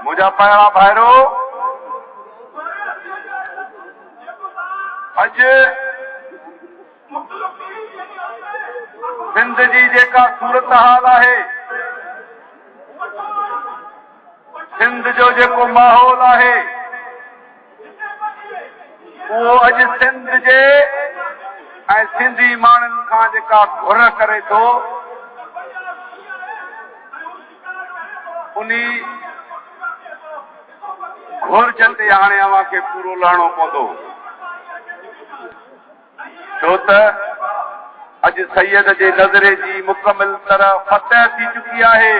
منهنجا پيارا ڀائرو! اڄ سنڌ جي جيڪا صورتحال آهي، سنڌ جو جيڪو ماحول آهي، اهو اڄ سنڌ جي ۽ سنڌي ماڻهن کان جيڪا گهر ڪري ٿو انهي گهرج تي هاڻي اوهان کي پورو لهڻو پوندو. ڇو ته اڄ سيد جي نظري جي مڪمل طرح فتح ٿي چڪي آهي.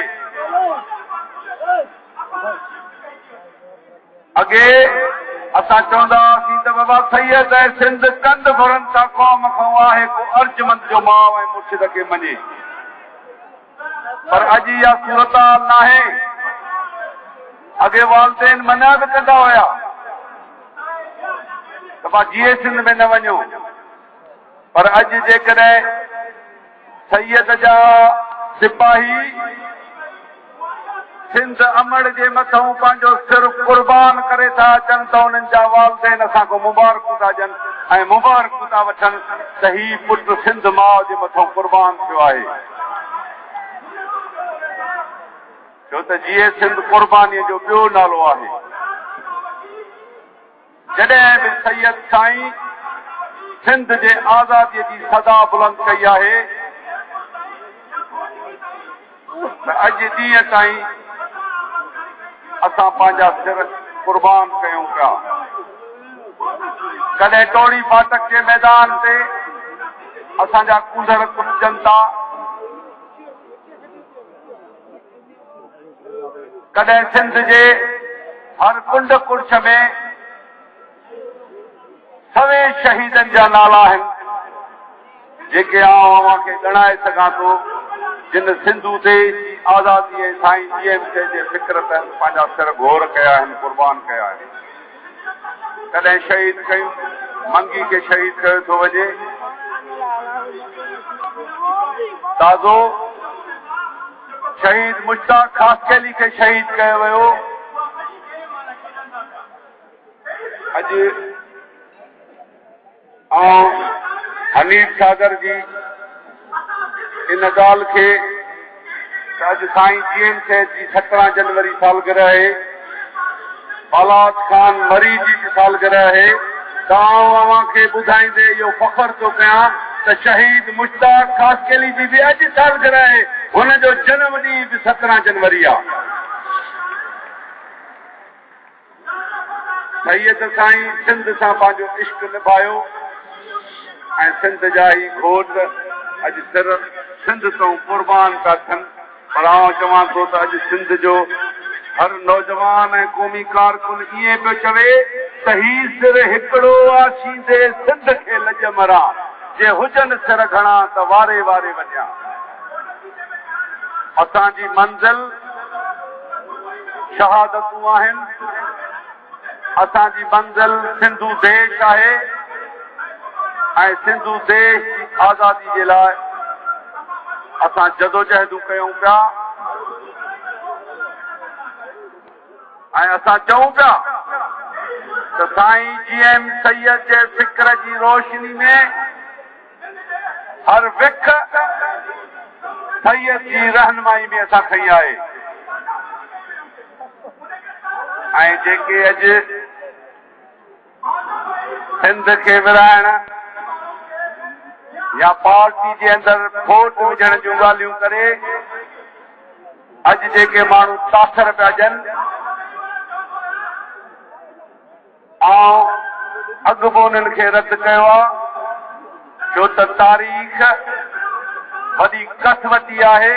اڳي اسان چوندا هئاسين ته بابا سيد ۽ سنڌ ڪنڌ گهرن ٿا قوم کان آهي ڪو ارجمند جو ماء ۽ مرشد کي مڃي. پر اڄ اها صورتحال ناهي، اڳي والدين منع به ڪندا هيا ته مان جيئي سنڌ ۾ نه وڃو پر اڄ جيڪڏهن سيد جا سپاهي سنڌ امڙ جي مٿئون پنهنجو سر قربان ڪري ٿا اچن ته انهن جا والدين اسان کان مبارڪون ٿا ڏين ۽ مبارڪون ٿا وٺن ته هي پٽ سنڌ ماء جي مٿئون قربان ٿيو آهي. ڇو ته جيئي سنڌ قرباني جو ٻيو نالو آهي. جڏهن به سيد سائين سنڌ جي آزادي جي صدا بلند ڪئي آهي ته اڄ ڏينهن تائين اسان پنهنجا سر قربان ڪيون پيا. ڪڏهن ٽوڙي فاٽڪ جي ميدان تي اسان جا ڪونڌر ڪٽجن ٿا. ڪڏهن سنڌ جي هر ڪنڊ ڪڙڇ ۾ سوين شهيدن جا نالا آهن، جيڪي آئون اوهان کي ڳڻائي سگهان ٿو، جن سنڌو ديس جي آزادي ۽ سائين جي ايم سي جي فڪر تحت پنهنجا سر گهور ڪيا آهن، قربان ڪيا آهن. ڪڏهن شهيد ڪيون منگي کي شهيد ڪيو ٿو وڃي تازو شهيد مشتاق خاصخيلي کي شهيد ڪيو ويو اڄ آئون حنيف ڇاڳر جي ان ڳالهه کي ته اڄ سائين جي ايم سيد جي سترهن جنوري سالگرهه آهي، بالات خان مري جي به سالگرهه آهي ته آئون اوهان کي ٻڌائيندي اهو فخر ٿو ڪيان ته شهيد مشتاق خاصخيلي جي به اڄ سالگرهه آهي، هن جو جنم ڏينهن به سترهن جنوري آهي. سيد سائين سنڌ سان پنهنجو عشق نڀايو ۽ سنڌ جا هي گهوٽ اڄ سر سنڌ تئون قربان ٿا ٿين پر آئون چوان ٿو ته اڄ سنڌ جو هر نوجوان ۽ قومي ڪارڪن ائين پيو چوي ته هي سر هڪڙو آ شيندي سنڌ کي لڄ مران جي هجن سر گهڻا ته واري واري وڃان. اسان جي منزل شهادتون آهن، اسان جي منزل سنڌو ديش آهي ۽ سنڌو ديش جي آزادي جي لاء اسان جدوجهدون ڪيون پيا ۽ اسان چئون پيا ته سائين جي ايم سيد جي فڪر جي روشني ۾ هر وک سيد جي رهنمائي به اسان کنئي آهي ۽ جيڪي اڄ سنڌ کي ورهائڻ يا پارٽي جي اندر ڦوٽ وجهڻ جون ڳالهيون ڪري اڄ جيڪي ماڻهو تاثر پيا ڏين آئون اڳ به انهن کي رد ڪيو آهي، ڇو ته تاريخ وڏي ڪسوٽي آهي،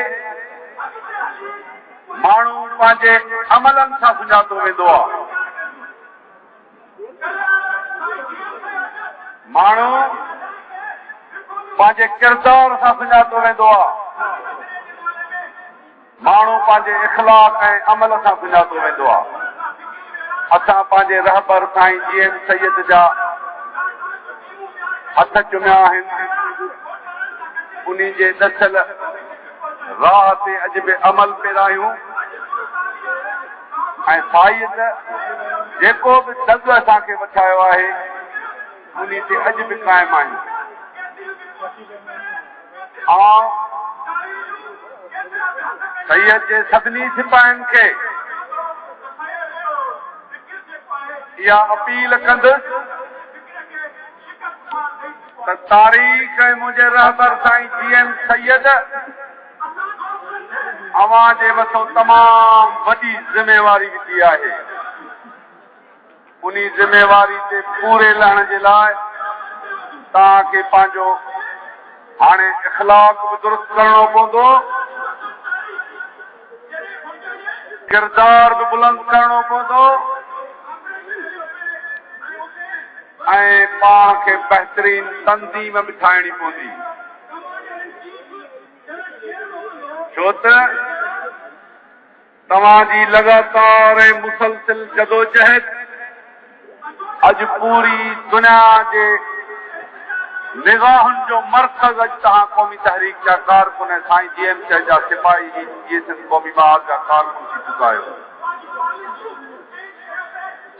ماڻهو پنهنجي عملن سان سڃاتو ويندو آهي، ماڻهو پنهنجي ڪردار سان سڃاتو ويندو آهي. ماڻهو پنهنجي اخلاق ۽ عمل سان سڃاتو ويندو آهي. اسان پنهنجي رهبر سائين جي ايم سيد جا هٿ چميا آهن. انهي جي ڏسيل راهه تي اڄ به عمل پيرا آهيون ۽ سائيد جيڪو به دڳ اسان کي وٺايو آهي، انهي تي اڄ به قائم آهيون. آء سيد جي سڀني سپاهين کي اها اپيل ڪندس ته تاريخ ۽ منهنجي رهبر سائين جي ايم سيد اوهان جي مٿو تمام وڏي ذميواري وڌي آهي. انهي ذميواري تي پوري لهڻ جي لاء توهان کي پنهنجو هاڻي اخلاق به درست ڪرڻو پوندو، ڪردار به بلند ڪرڻو پوندو ۽ پاڻ کي بهترين تنظيم به ٺاهڻي پوندي ڇو ته. توهان جي لڳاتار ۽ مسلسل جدوجهد اڄ پوري دنيا جي نگاهن جو مرڪز اڄ توهان قومي تحريڪ جا ڪارڪن ۽ سائين جي ايم سي جا سپاهي هي جي سنڌ قومي ٻهار جا ڪارڪن ٿي چڪا آهيو.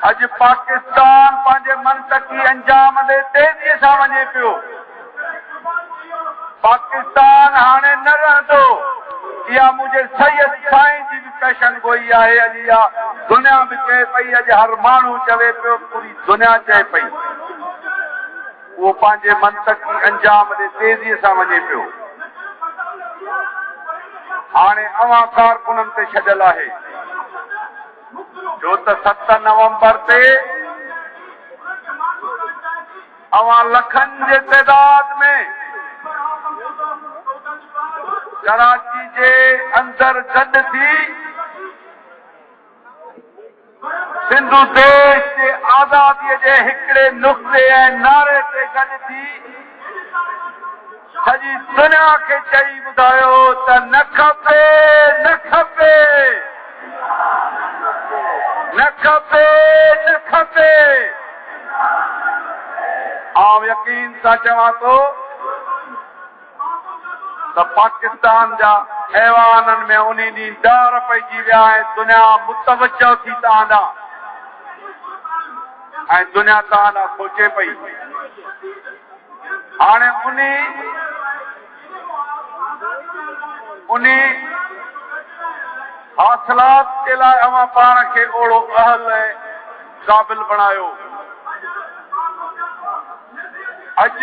اڄ پاڪستان پنهنجي منطقي انجام ڏي تيزي سان وڃي پيو. پاڪستان هاڻي نه رهندو. اها منهنجي سيد سائين جي به پيشن گوئي آهي. اڄ اها دنيا به چئي پئي. اڄ هر ماڻهو چوي پيو. پوري دنيا چئي پئي. اهو پنهنجي منطقي انجام ڏي تيزي سان وڃي پيو. هاڻي اوهان ڪارڪنن تي ڇڏيل آهي. ڇو ته ست نومبر تي اوهان لکن جي تعداد ۾ ڪراچي جي اندر گڏ ٿي سنڌو ديش جي آزادي جي هڪڙي نقطي ۽ نعري تي گڏ ٿي سڄي دنيا کي چئي ٻڌايو ته نه کپي نه کپي نه کپي نه کپي آئون يقين سان چوان ٿو ته پاڪستان جا ايوانن ۾ انهي ڏينهن ڊار پئجي ويا ۽ دنيا متوجه ٿي توهان ڏانهن ۽ دنيا توهان لاء سوچي پئي. هاڻي انهي انهي حاصلات جي لاء اوهان پاڻ کي اوڙو اهل ۽ قابل بڻايو. اڄ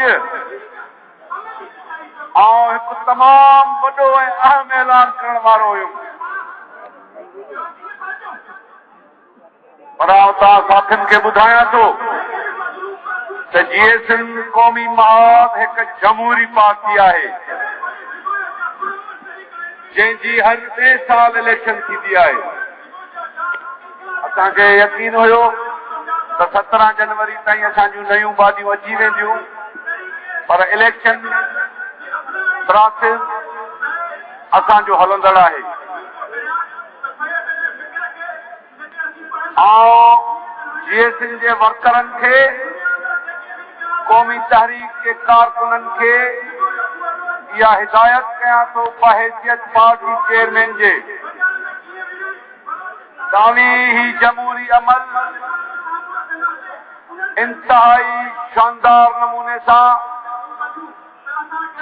آئون هڪ تمام وڏو ۽ اهم اعلان ڪرڻ وارو هيم. پر آئون توهان ساٿين کي ٻڌايان ٿو ته جيئي سنڌ قومي محاذ هڪ جمهوري پارٽي آهي جنهن جي هر ٽي سال اليڪشن ٿيندي آهي اسان کي يقين هيو ته سترهن جنوري تائين اسان جون نيون باڊيون اچي وينديون پر اليڪشن پراسيس اسان جو هلندڙ آهي آئون جي ايس اين جي ورڪرن کي، قومي تحريڪ جي ڪارڪنن کي اها هدايت ڪيان ٿو بحيثيت پارٽي چيئرمين جي داني هي جمهوري عمل انتهائي شاندار نموني سان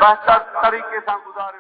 بهتر طريقي سان گذاريو.